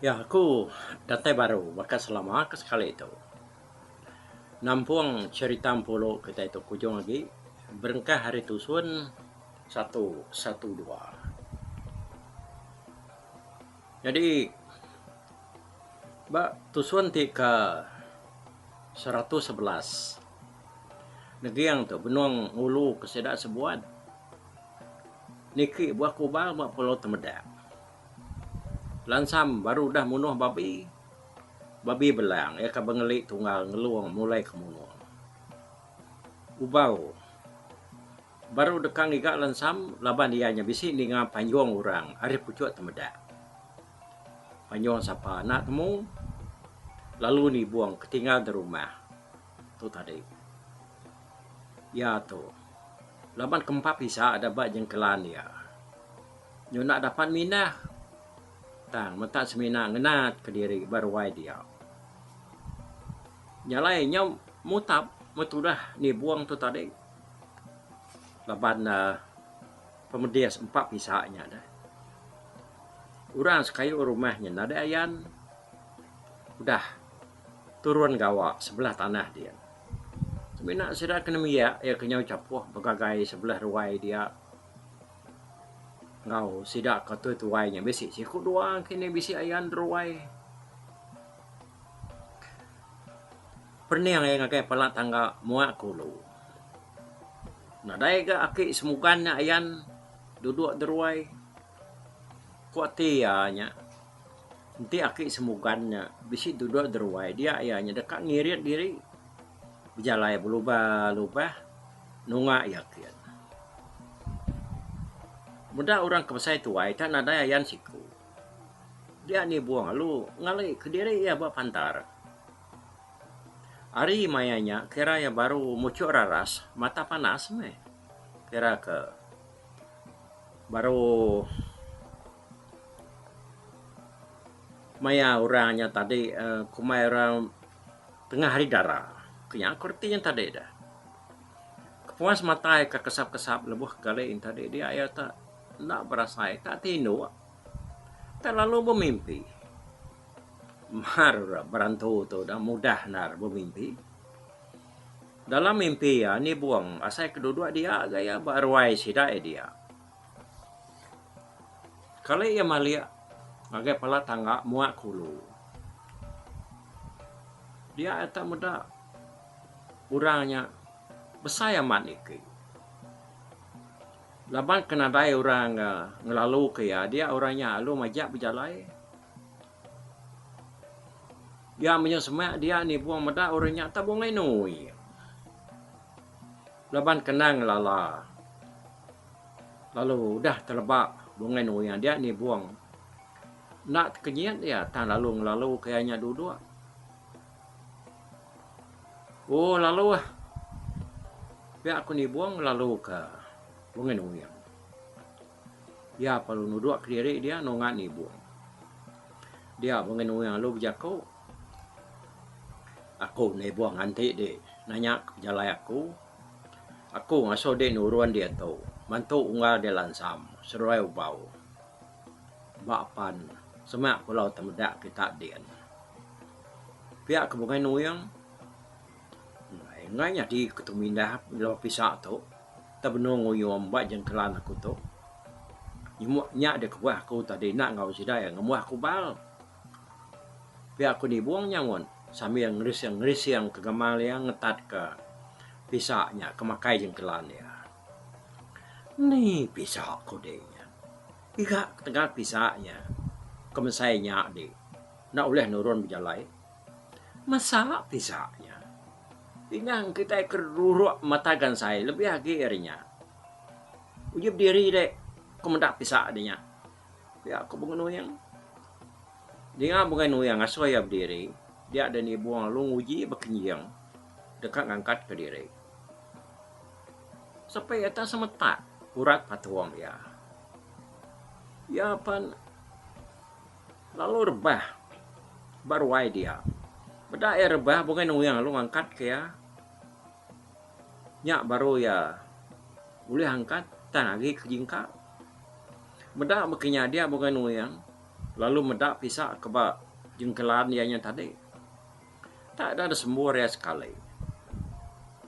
Ya aku datai baru baka selama ke sekali tu nampung cherita empuru kitai tu ke ujung agi berengkah ari tusun satu satu dua. Nyadi ba tusun ti ke seratus sebelas neging tu benung ngulu ke sida sebuat niki buah kubang ba Pulau Temedak. Lansam baru udah munuh babi, babi belang iya ke bengeli tunggal ngelung mulai ke munung. Ubau Baru deka ngiga lensam laban iya nya bisi ninga panjung orang ari puchuk temeda. Panjung sapa anak temu lalu nibung ke tinggal di rumah tu tadi. Iya tu laban ke empa pisa da ba jengkelan iya. Nyuna dapat mindah tang menta semina ngenat ke diri ba ruai dia. Nya alai nya mutap metudah nibung tu tadi. laban uhh pemedis empa pisa nya deh. Orang sekayu rumah nya nadai ayan udah turun gawa sebelah tanah dia. Semina sida ke nembiak iya ke nyau chapuh begagai sebelah ruai dia enggau sida ke tuai-tuai nya bisi siku dua engki ne bisi ayan ruai. Pening angai ngagai pala tangga muak kulu. Nadai ga aki semukan nya ayan dudok deruai. Ku ati iya nya enti aki semukan nya bisi dudok deruai dia iya nya deka ngirit diri bejalai belubah lubah nunga iya kin. Meda orang ke besai tuai ita nadai ayan siku. Dia ni buah alu ngali kediri iya ba pantar. Ari maya nya kira iya baru muchuk raras mata panas meh. Kira ke baru maya orang nya tadi uhh kumbai orang tengah hari dara. Ku nya ku reti nya tadi deh. Kepuas matai ke kesap-kesap lebuh kali nya tadi dia iya te. Enda berasai, tak tinduk, tak lalu bemimpi. Mar rak berantu tu dah mudah endar bemimpi. Dalam mimpi iya nibung asai ke duduk dia ga iya ba ruai sida iya dia. Kali iya malik ngagai pala tangga muak kulu. Dia iya tak meda orang nya besai amat niki. Laban ke nadai orang ngelaluka iya, dia orang nya alu majak bejalai. Iya menyau semak dia nibung meda orang nya tabung nginui. Laban ke endang lala lalu udah teleba bungai nui iya, dia nibung. Enda tekenyit iya tang lalu ngelaluka iya nya duduk. Oh lalu ah. Pia aku nibung lalu ka Bungan Uyang. Iya pelalu nuduk kediri dia nunga nibung. Dia Bungan Uyang lalu bejaku, Aku nibung enti di nanya ka pejalai aku. Aku ngasuh di nurun dia tu mantu unggal dia lansam seduai ubau. Ba pan semak kulau temeda kita din. Pia ke Bungai Nuing enggai nyadi ke tu mindah melo pisa tu tau benung ngunyum ba jengkelan aku tu nya deh kebuah aku tadi enda enggau sida iya ngembuh aku bal pia aku nibung nya mun sambil ngerising ngerising ke gamal iya ngetat ke pisa nya ke makai jengkelan iya. Ni pisa ku deh nya iga ketegal pisa nya ke mesai nya deh. Enda ulih nurun bejalai masa pisa nya. Pinang kitai ke ruruk mata gansai lebih agi ari nya. Uji bediri dek ke meda pisa adi nya. Pia ko Bunga Nuyang. Dinga Bunga Nuyang ngasuh iya bediri, dia deh nibung lalu nguji ba kenjing deka ngangkat ke diri. Sepi iya tak semetak urat patung iya. Iya pan. Lalu rebah ba ruai dia. Meda iya rebah bungai nuing lalu ngangkat ke iya. Nya baru iya ulih angkat tang agi ke jingka. Meda baka nya dia bungai nuing lalu meda pisa ke ba jengkelan iya nya tadi. Enda ida disembur iya sekali.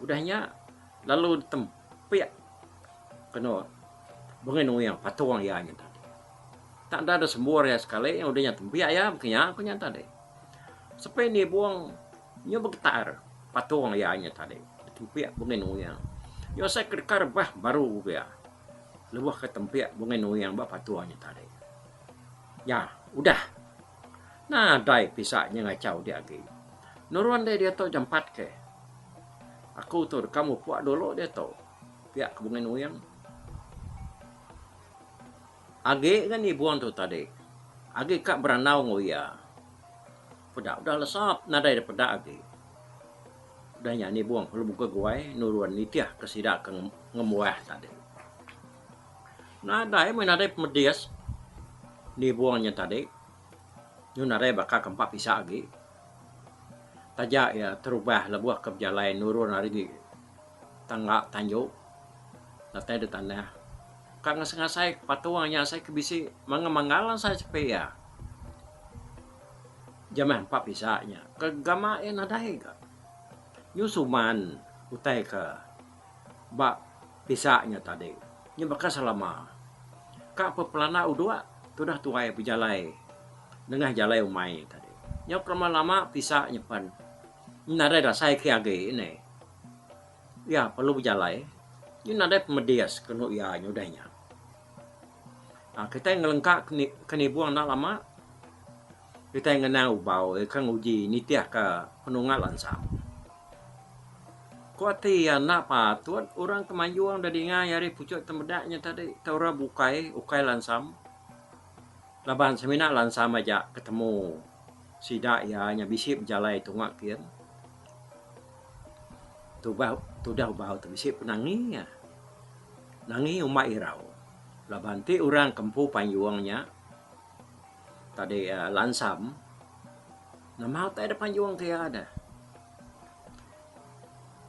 Udah nya lalu ditem. Pia. Keno bengi nuing patung iya nya tadi. Tak enda ada sembur iya sekali udah nya tembiak iya maka nya ku nya tadi. Sepi nibung nyu begetar patung iya nya tadi ditembiak bengi nuing. Nyu asai ke deka rebah baru pia lebuh ke tembiak bengi nuing ba patung nya tadi. Nya udah. Nadai pisa nya ngachau dia agi. Nurun deh diatu jampat ke. Aku tu deka mupuk dulu diatu. Pia ke Bungan Uing. Agi ngan Ibun tu tadi. Agi ka berandau enggau iya. Peda udah lesap nadai deh peda agi. Udah nya Nibung lalu buka guai nurun nitih ke sida ke ngembuah tadi. Nadai meh nadai pemedis nibung nya tadi nyun nadai baka ke empa pisa agi taja iya terubah lebuh ke bejalai nurun ari tangga tanju datai da tanah ka ngasai ngasai ke patung nya asai ke bisi mangga mangga la asai sepi iya ja meh empa pisa nya ke gama iya nadai ga nyun suman utai ke Ba pisa nya tadi, nya baka selama ka pepelana udok ke udah tuai bejalai nengah jalai umai tadi. Nyau kelama lama pisa nya pen nadai dasai ke agi ne iya perlu bejalai nyi nadai pemedis ke enu iya nya udah nya. Kitai ngelengka ke nibong enda lama. Kitai ngena ubau iya ke nguji nitihka penungal ansang. Ku ati iya enda patut orang ke manjung deka dingai ari puchuk temeda nya tadi tau ra bukai ukai lansam laban semina lansam aja ke temu sida iya nya bisi bejalai tunga kin tubah tudah ubau tu bisi pun nangi iya. Nangi umba irau laban ti orang ke empu panjung nya. Tadi lansam nama utai da panjung ke iya da.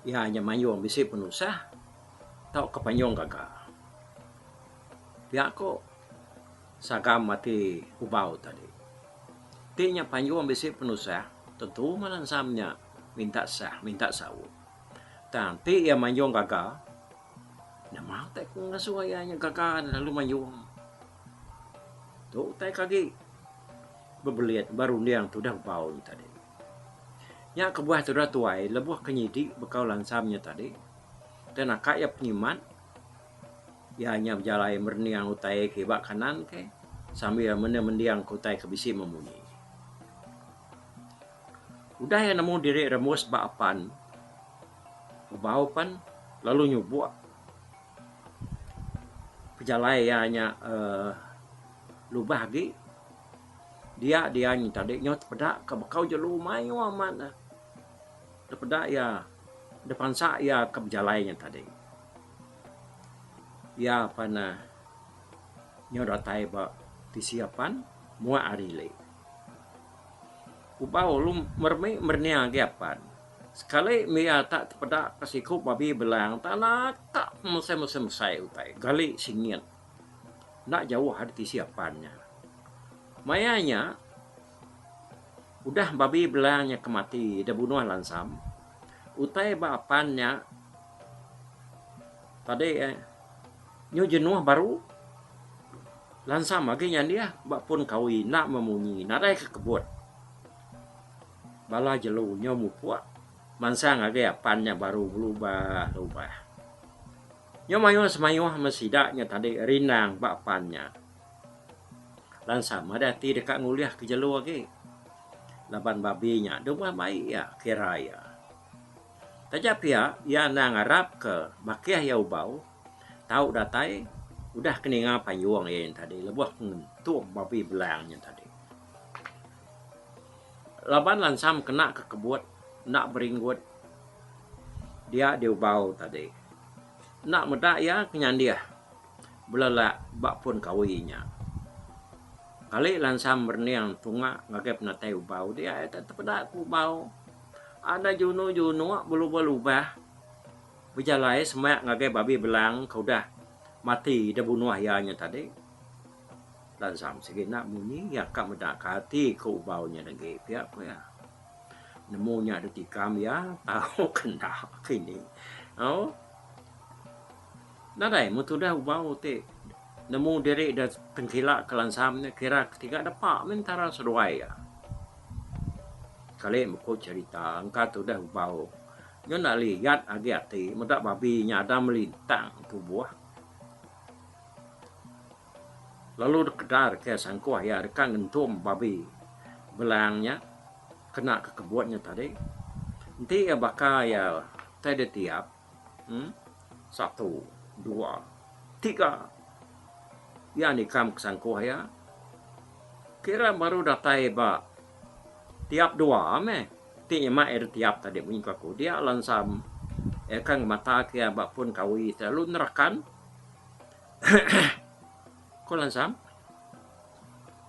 Iya nya manjung bisi penusah tauka panjung gaga. Pia ku sagam ati Ubau tadi. Ti nya panjung bisi penusah tentu mah lansam nya minta sah minta saut. Tang ti iya manjung gaga nama utai ku ngasuh iya nya gaga lalu manjung. Tu utai ke agi bebelit ba runding tu udah bau nya tadi. Nya kebuah tudah tuai lebuh ke nyidi bekau lansam nya tadi ke naka iya pengimat iya nya bejalai merening utai ke ba kanan ke sambil mende mending ke utai ke bisi meh munyi. Udah iya nemu diri remus ba apan bebau pan lalu nyubok. Pejalai iya nya uhh lubah agi dia dia nyin tadi nyau tepeda ka bekau jelu mayuh amat ne tepeda iya dep pansa iya ka bejalai nya tadi. Iya pan uhh nyau datai ba tisi apan muak ari ili. Ubau lu meremi merening agi apan. Sekali mia tak tepeda ke siku babi belang tak anak tak mesai-mesai mesai utai gali singit enda jauh ari tisi apan nya. Maya nya udah babi belang nya ke mati deh bunuh lansam utai ba apan nya tadi nyu jenuh baru lansam agi nya dih ba pun kawi enda memunyi nadai ke kebut. Bala jelu nyau mupuk mansang agei apan nya baru belubah-lubah. Nyau mayuh semayuh meh sida nya tadi rindang ba apan nya. Lansa meh deh ati deka ngulihka jelu agi laban babi nya deh meh mai iya kira iya. Taja pia iya enda ngarapka makih iya ubau tau datai udah ke ninga payung iya nya tadi lebuh ngentung babi belang nya tadi. Laban lansam kena ke kebut enda beringgut dia diubau tadi. Enda meda iya ke nyandih belelak ba pun kawi inya. Kali lansam berening tunga ngagai penatai ubau dia iya tu tepeda ke ubau. Anda junu-junu belubah lubah bejalai semak ngagai babi belang ke udah mati deh bunuh iya nya tadi. Lansang sigi enda munyi iya ka meda ka ati ke ubau nya dagi pia ku iya. Nemu nya ditikam iya tau ke enda ke ini. Au. Nadai mun tudah ubau ti nemu diri deh tengkila ke lansam nya kira tiga depa meh entara seduai iya. Kali meko cherita engka tudah ubau nyu enda liat agi ati meda babi nya ada melintang tubuh. Lalu dikadar ke sangkuh iya deka ngentum babi belang nya kena ke kebun nya tadi. Enti iya baka iya tai ditiap uhh satu dua tiga iya nikam ke sangkuh iya kira baru datai ba tiap dua meh ti nyema iya ditiap tadi munyi ku aku dia lansam iya ka ngemata ke iya ba pun kawi ti lalu nerakan. Ko Lansam,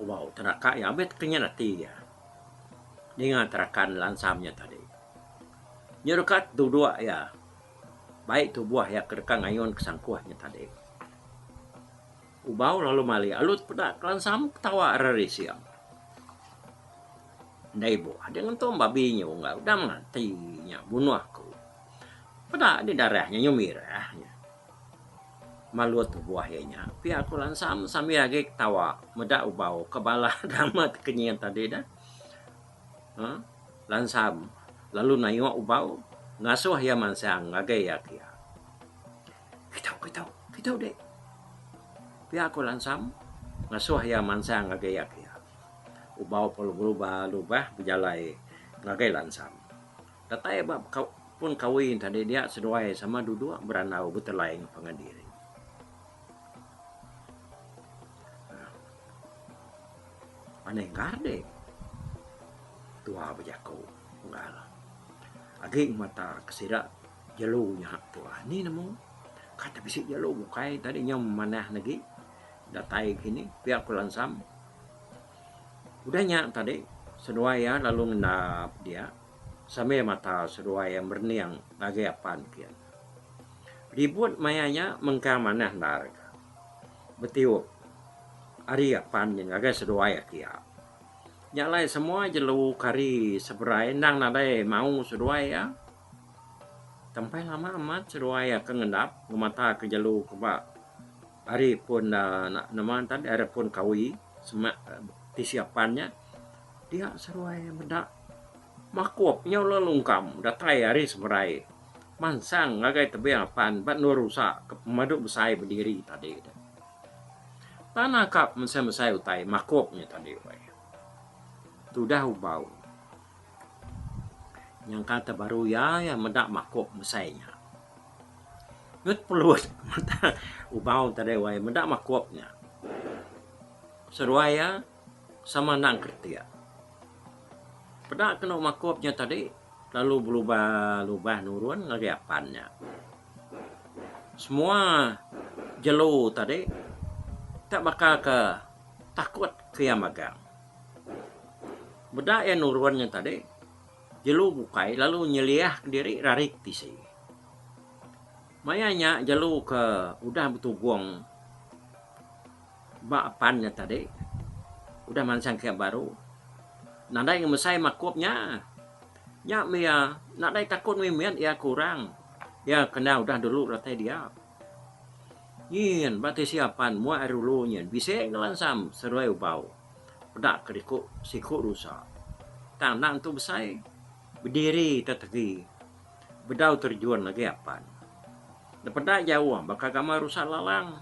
Wau teraka iya meh tekenyan ati iya ninga terakan Lansam iya tadi. Iya deka tudok iya bai tubuh iya ke deka ngayun ke sangkuh iya tadi. Ubau lalu malik alu peda ke Lansam ketawa ari rising. Enda ibuh ading entu babi nyu enggau udah mati nya bunoh ku. Peda agi darah nya nyu mirah nya. Malu tubuh iya nya. Pia aku lansam sambil agi ketawa meda ubau ke bala nama ti ke nyin tadi dah uhh lansam lalu nayuk ubau ngasuh iya mansang ngagai iya ke iya. Kitau kitau kitau dek. Pia aku lansam ngasuh iya mansang ngagai iya ke iya. Ubau pelubah lubah bejalai ngagai lansam. Datai ba pun kawi enti adi dia seduai sama duduk berandau betelai enggau pangan diri. Anih gardik tua bejaku enggau agik mata ke sida jelu nya tua ni nemu ka te bisi jelu bukai tadi nyau manah agi datai kini pia ku lansam udah nya tadi seduai iya lalu ngendap dia. Sambil mata seduai merening ngagai apan pia. Ribut maya nya mengkang manah endar ka. Betiup ari apan nya ngagai seduai aki iya. Nya alai semua jelu kari seberai endang nadai maung seduai iya. Tempai lama amat seduai iya ke ngendap ngemata ke jelu ke ba ari pun aaa nama ngaran ne ari pun kawi semak tisi apan nya. Dia seruai meda makup nyau le lungkam datai ari semerai mansang ngagai tebing apan ba endur usa ke pemadu besai bediri tadi tu. Tanah ka mesai-mesai utai makup nya tadi wei. Tudah ubau. Nyangka te baru iya ya meda makup mesai nya. Ngut pelut ubau tadi wei meda makup nya. Seruai ya. Sama anang kretek. Peda kenu makup nya tadi lalu belubah lubah nurun ngagai apan nya. Semua jelu tadi tak baka ke takut ke iya magang. Meda iya nurun nya tadi jelu bukai lalu nyeliah kediri rari ke tisi. Maya nya jelu ke udah betugong. Ba pan nya tadi udah mansang camp baru nadai ngemesai makup nya. Nya meh iya nadai takut mih mit iya ke orang. Iya kena udah dulu retai dia. Nyin ba tisi apan moh ari dulu nyin bisi ngelansam serui ubau peda ke diku siku rusa. Tang anak tu besai bediri tetegi bedau terjun lagi apan. Dipeda jauh baka gamal rusa lalang.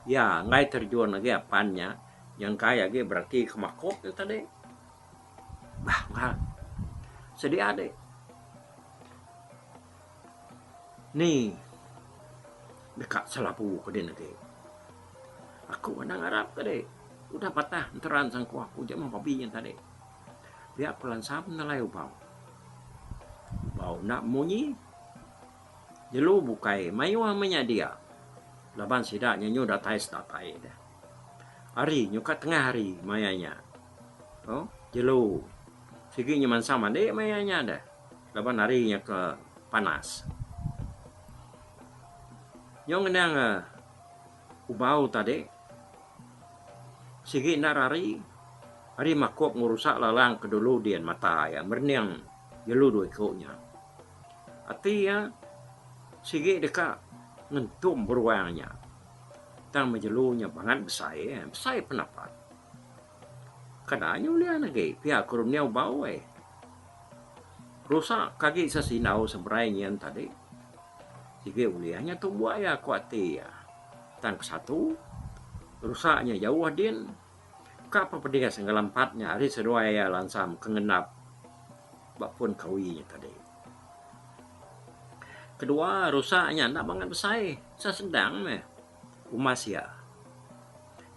Iya enggai terjun agi apan nya nyengkai agi bereti ke makok nya tadi. Bah ngah. Sedia dih. Ni deka selabu ke din agi. Aku enda ngarap ke dih. Udah patah enteran sangkuh aku je meh babi nya tadi. Pia ku Lansam nelai Ubau. Ubau enda munyi. Jelu bukai mayuh menyadi a laban sida nyenyu datai sedatai deh. Ari nyuka tengah ari maya nya ko jelu sigi nya mansa madi maya nya deh laban ari nya ke panas. Nyau ngenang ubau tadi sigi enda ari ari makup ngerusak lalang ke dulu dian mata iya merening. Jelu dua iku nya. Ati iya sigi deka ngentum beruang nya. Tang meh jelu nya bangat besai, besai pan apat. Kada nya ulian agi pia ke dunia bau ai. Rusak ke agi se sindau seberai nyin tadi. Sigi ulian nya tumbuk iya ku ati iya. Tang ke satu rusak nya jauh din. Ka apa pedis ngelampat nya ari seduai iya lansam ke ngendap ba pun kawi iya tadi. Kedua rusa nya enda mangat besai asal sendang meh umas iya.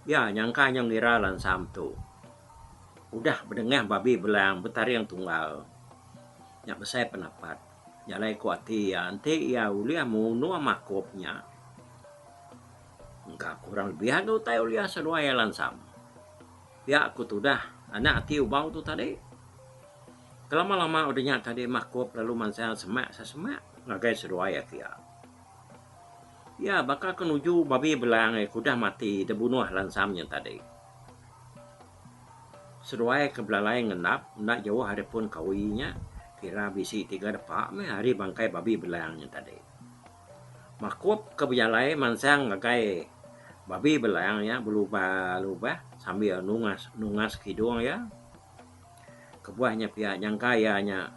Iya nyangka nyau ngira lansam tu udah bedengah babi belang betaring tunggal nya besai penapat nya alai ku ati iya enti iya ulih munung makup nya. Engka ku orang lebih agi utai ulih asa dua iya lansang. Pia ku tudah anak ati ubau tu tadi. Kelama-lama udah nya tadi makup lalu mansang semak asa semak ngagai seduai iya pia. Iya baka ke nuju babi belang iya ke udah mati deh bunuh lansang nya tadi. Seduai ke belalai ngendap enda jauh ari pun kawi nya kira bisi tiga depa meh ari bangkai babi belang nya tadi. Makup ke bejalai mansang ngagai babi belang nya belubah-lubah sambil nungas-nungas kidung iya. Kebuah nya pia nyangka iya nya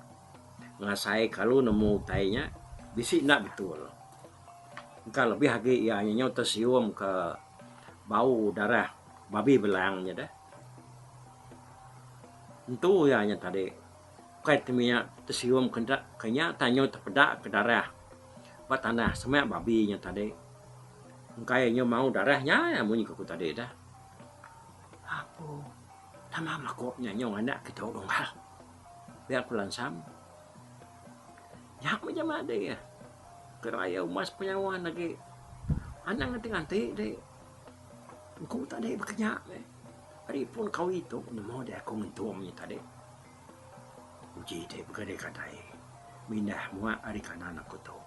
ngasai kalu nemu utai nya bisi enda betul. Engka lebih agi iya nya nyau tesium ke bau darah babi belang nya deh. Entu iya nya tadi. Bukai temia tesium ke enda ke nya tang nyu tepeda ke darah ba tanah semak babi nya tadi. Engkai nyu mau darah nya iya munyi ke ku tadi dah. Apo tama makup nya nyau anak ke tau dunggal. Pia ku lansam. Nya meh ja madi eh. Ke raya uma sepenyawa ne agi anang nganti nganti deh. Engku tadi baka nya meh. Ari pun kawi tu nemu deh aku ngentum nya tadi. Uji ti bega deka tai mindah muak ari kanan aku tu.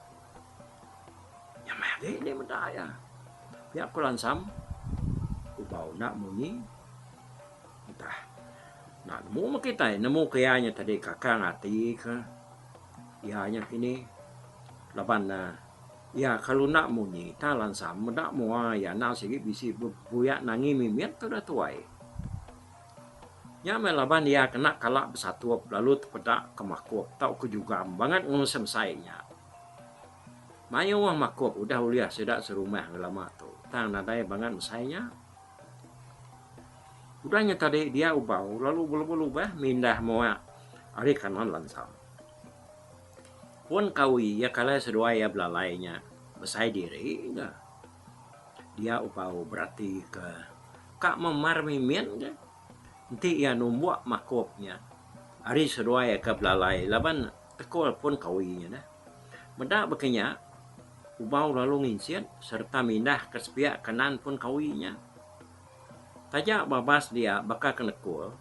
Nya meh agi indi meda iya. Pia aku lansam kubau enda munyi entah enda nemu meh kitai nemu ke iya nya tadi kakang ati ke iya nya kini laban ne iya kalu enda munyi tang lansam meda mua iya enda sigi bisi bebuyak nangi mimit ke udah tuai. Nya meh laban iya kena kala besatup lalu tepeda ke makup tauka jugam bangat enggau semsai nya. Mayuh wah makup udah ulih sida serumah enggau lama tu tang nadai bangat mesai nya. Udah nya tadi dia ubau lalu belubah-lubah mindah muak ari kanan lansang. Pun kawi iya kalai seduai iya belalai nya besai diri ga. Dia upau berati ke ka memar mimin ke enti iya numbuk makup nya ari seduai ka belalai laban tekul pun kawi nya neh. Meda baka nya ubau lalu nginsit sereta mindah ka sepiak kanan pun kawi nya. Taja babas dia baka ke nekul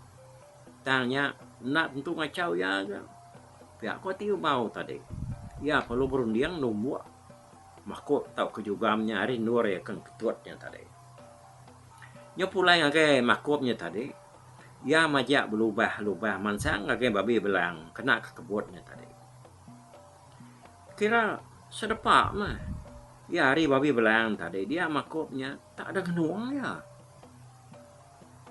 tang nya enda tentu ngachau iya ke. Pia ko ti ubau tadi iya perlu berunding numbuk. Makuk tauka jugam nya ari endur iya ke ngeketut nya tadi. Nya pulai ngagai makuk nya tadi, iya majak belubah-lubah mansang ngagai babi belang kena ke kebut nya tadi. Kira sedepa meh iya ari babi belang tadi dia makuk nya tak ada ngenung iya.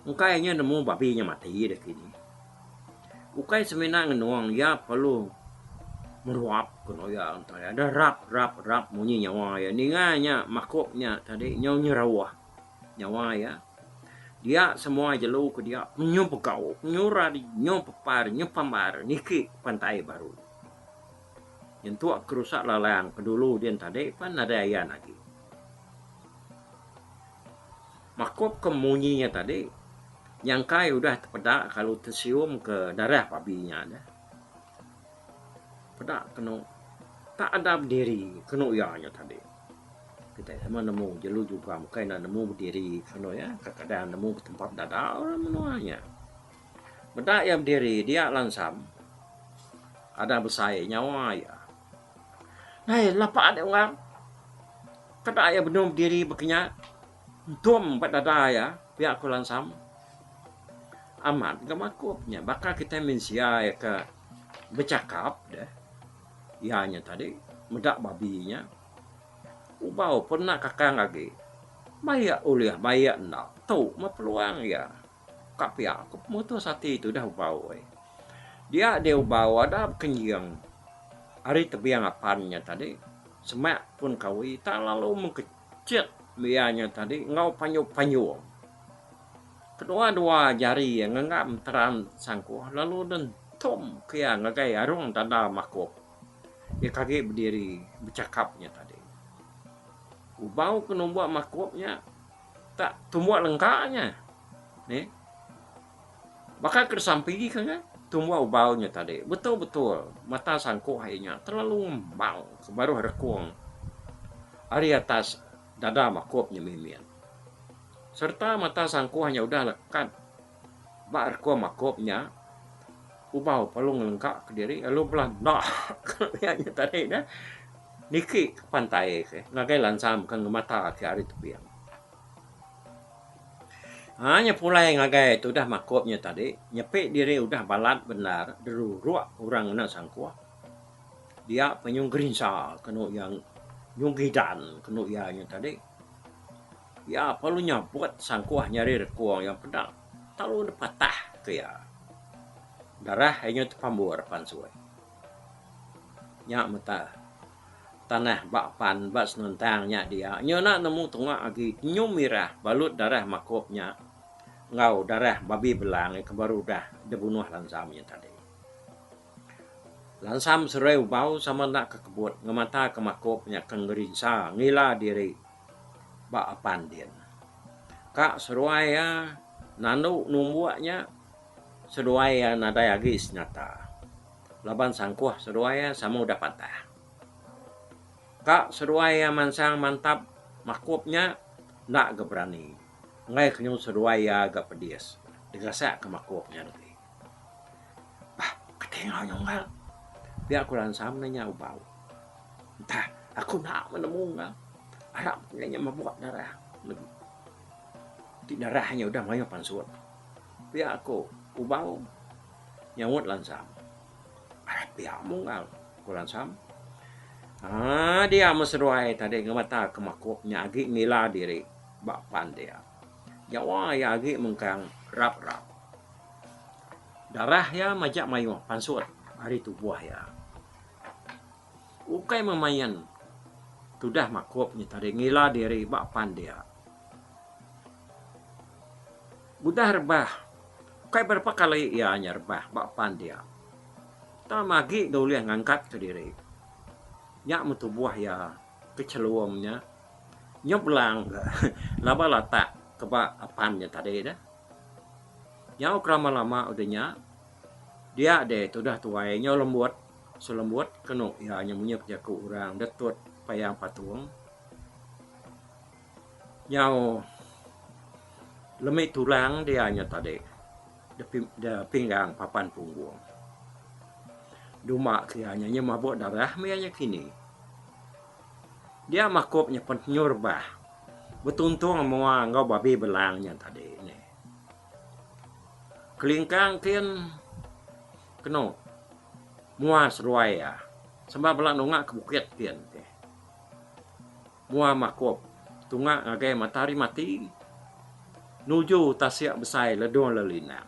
Engkai inya nemu babi nya mati deh kini. Ukai semina ngenung iya perlu meruap ke eno iya entang iya deh rap rap rap munyi nyawa iya. Ninga inya makuk nya tadi nyau nyerauh nyawa iya. Dia semua jelu ke dia nyu begau, nyu rari, nyu pepar, nyu pambar niki pantai baru. Nyentuk ke rusak lalang ke dulu din tadi pan nadai ayan agi. Makup ke munyi nya tadi, nyangkai udah tepeda kalu tesium ke darah pabi nya nya. Peda kenu tak ada bediri kenu iya nya tadi. Kitai sama nemu jelu juga bukai enda nemu bediri kenu iya, kadang-kadang nemu betempat dadal lalu menua nya. Meda iya bediri dia lansam ada besai nyawa iya. Ai lapa adi Unggang. Kada iya benung bediri baka nya. Entum ba dada iya, pia ku Lansam. Amat enggau Makup nya baka kitai mensia iya ke bechakap deh. Iya nya tadi meda babi nya. Ubau pun enda kakang agi. Maia ulih maia enda, tu meh peluang iya. Ka pia ku pemutus ati tudah Ubau ai. Dia dih Ubau ada bekenjing ari tebing apan nya tadi semak pun kawi tak lalu mengke. Chek bia nya tadi enggau panyuh-panyuh kedua-dua jari iya ngenggam teran sangkuh lalu dentum ke iya ngagai arung dada makup iya ke agi bediri bechakap nya tadi. Kubau ke numbuk makup nya tak tumbuk lengka nya. Neh. Baka ke disampi ke nya, tumbuh ubau nya tadi betul-betul mata sangkuk ai nya telalu ngembang ke baruh rekung ari atas dada makup nya mimin. Sereta mata sangkuh nya udah lekat ba rekung makup nya, ubau lalu ngelengka ke diri lalu bela enda ke pia nya tadi niki ke pantai ke ngagai lansa mega ngemata ke ari tebing. Haa nya pulai ngagai tudah makup nya tadi nyepi diri udah balat bendar deruruk orang ngena sangkuh dia penyuh gerinsa kenu iya nyuh gidan kenu iya nya tadi iya perlu nyabut sangkuh nyadi rekung yang peda tau dipatah ke iya darah iya nya tepambur pansut nya meta. Tanah ba pan ba Senuntang nya dia nyu enda nemu tunga agi nyum mirah balut darah makop nya enggau darah babi belang ke baru udah dibunuh Lansam nya tadi. Lansam serai ubau sama enda ke kebut ngemataka makop nya ke ngerinsa ngila diri ba apan din. Ka seduai iya nandu numbuk nya seduai iya nadai agi senyata. Laban sangkuh seduai iya sama udah pantas. Ka seduai iya mansang mantap makup nya enda ga berani enggai kenyau seduai iya ga pedis digasak ka makup nya diri. Bah kati enggau nya unggal pia ku Ransam meh nya ubau. Entah aku enda meh nemu unggal arap nya nya mabuk darah legi ti darah nya udah mayuh pansut pia ku ubau. Nyaut Lansam. Alah pia Munggal, ku Lansam. Haa dia meh seduai tadi ngemeta ke makuk nya agi ngila diri ba pan dia. Nyawa iya agi mengkang rap-rap. Darah iya majak mayuh pansut ari tubuh iya. Ukai meh main tudah makuk nya tadi ngila diri ba pan dia. Udah rebah, ukai berapa kali iya nya rebah ba pan dia, tama agi da ulih ngangkatka diri. Nya meh tubuh iya ke chelum nya nyeblang ga laban latak ke ba pan nya tadi dah. Nyau ke lama lama udah nya, dia deh tudah tuai nyau lembut selembut kenu iya nya menyuk jaku orang da tut payang patung. Nyau lemi turang dia nya tadi da pinggang papan punggung. Duma ke iya nya mabuk darah meh iya nya kini. Dia makup nya pen tenyu rebah betuntung mua enggau babi belang nya tadi nih. Kelingkang kin kenu mua seruai iya samba bala nunga ke bukit kin. Mua makup tunga ngagai matahari mati nuju tasik besai ledung lelinang.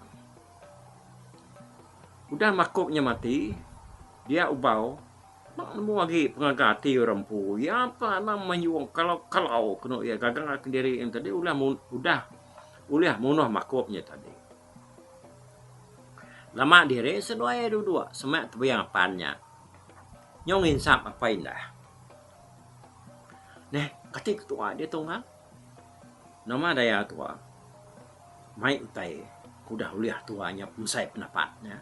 Udah makup nya mati, dia ubau enda nemu agi pengaga ati orang empu. Iya pa anang mayuh kalau-kalau kenu iya gaga kendiri iya tadi udah udah ulih munuh makup nya tadi. Lama diri seduai dua-dua semak tebiang apan nya nyau nginsap apai indah. Neh, kati ketu'a diatu ngang? Nama daya tu'a mai utai ke udah ulih tu'a nya pemesai pendapat nya?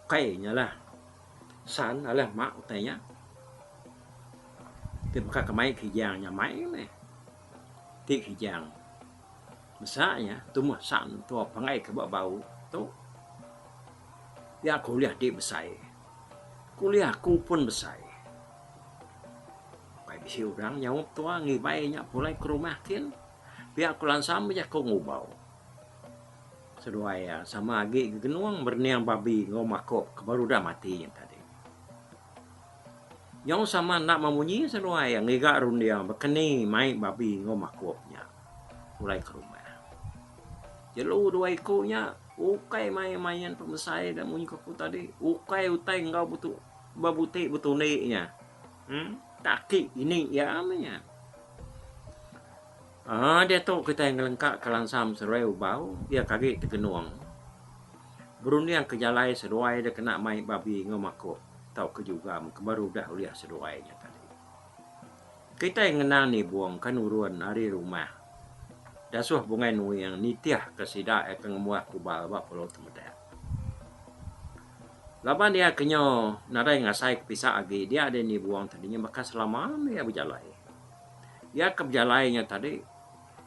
Ukai nya lah. San alai ma utai nya. Ti baka ke mai kijang nya mai meh. Ti kijang. Masa nya Tumah Sam tua pangai ke ba bau tu iya kuliah ti besai kuliah ku pun besai pai bisi orang nyaup tua ngibai nya pulai ke rumah kin pia ku lansa meh jaku ngubau seduai iya sama agi gegenung berening babi enggau makok ke baru udah mati nya tadi. Nyau sama enda memunyi seduai iya ngiga runding baka ni mai babi enggau makok nya pulai ke rumah. Jelu dua iku nya ukai main main pemesai da munyi ku aku tadi ukai utai enggau bebuti betundi nya. Em taki ini iya meh nya. Diatu kitai ngelengkaka langsam seruai ubau iya ke agi tegenung berunding ke jalai seduai dek kena mai babi enggau makok tauka jugam ke baru udah ulih seduai nya tadi. Kitai ngena nibung ke nurun ari rumah Dasuh Bungai Nuing nitih ke sida iya ke ngembuah kubal ba Pulau Temedak. Laban iya ke nyo nadai ngasai ke pisa agi dia deh nibung tadi nya baka selama meh iya bejalai. Iya ke bejalai nya tadi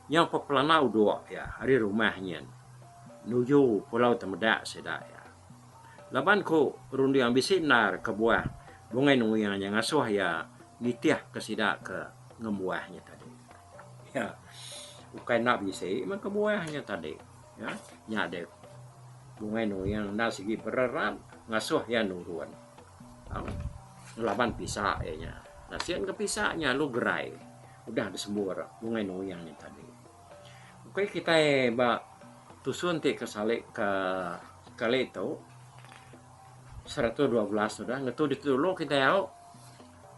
nyau pepelana udok iya ari rumah nyin nuju Pulau Temedak sida iya. Laban ku runding bisi endar kebuah Bungai Nuing nya ngasuh iya nitih ke sida ke ngembuah nya tadi. Iya ukai enda bisi meh kebuah nya tadi. Ya, nya deh. Bungai nuyang enda sigi bererat ngasuh iya nurun. Ha? Ngelaban pisa iya nya. Nah, sian ke pisa nya lu gerai. Udah disembur bungai nuyang nya tadi. Okey kitai ba tusun ti ke salik ke kali tu 112 sudah ngetu ditulu kitai au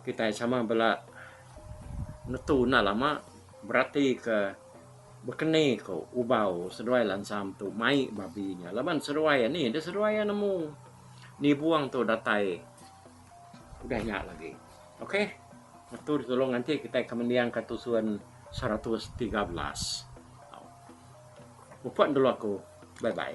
kitai sama bela ngetu enda lama berarti ke Bekeni ko ubau seduai lansam tu mai babi nya laban seduai ya ni dah seduai ya nemu nibung tu datai udah nya lagi okay ngetu di tolong nganti kitai akan mendiang ka tusun seratus tiga belas. Mupun dulu aku bye bye.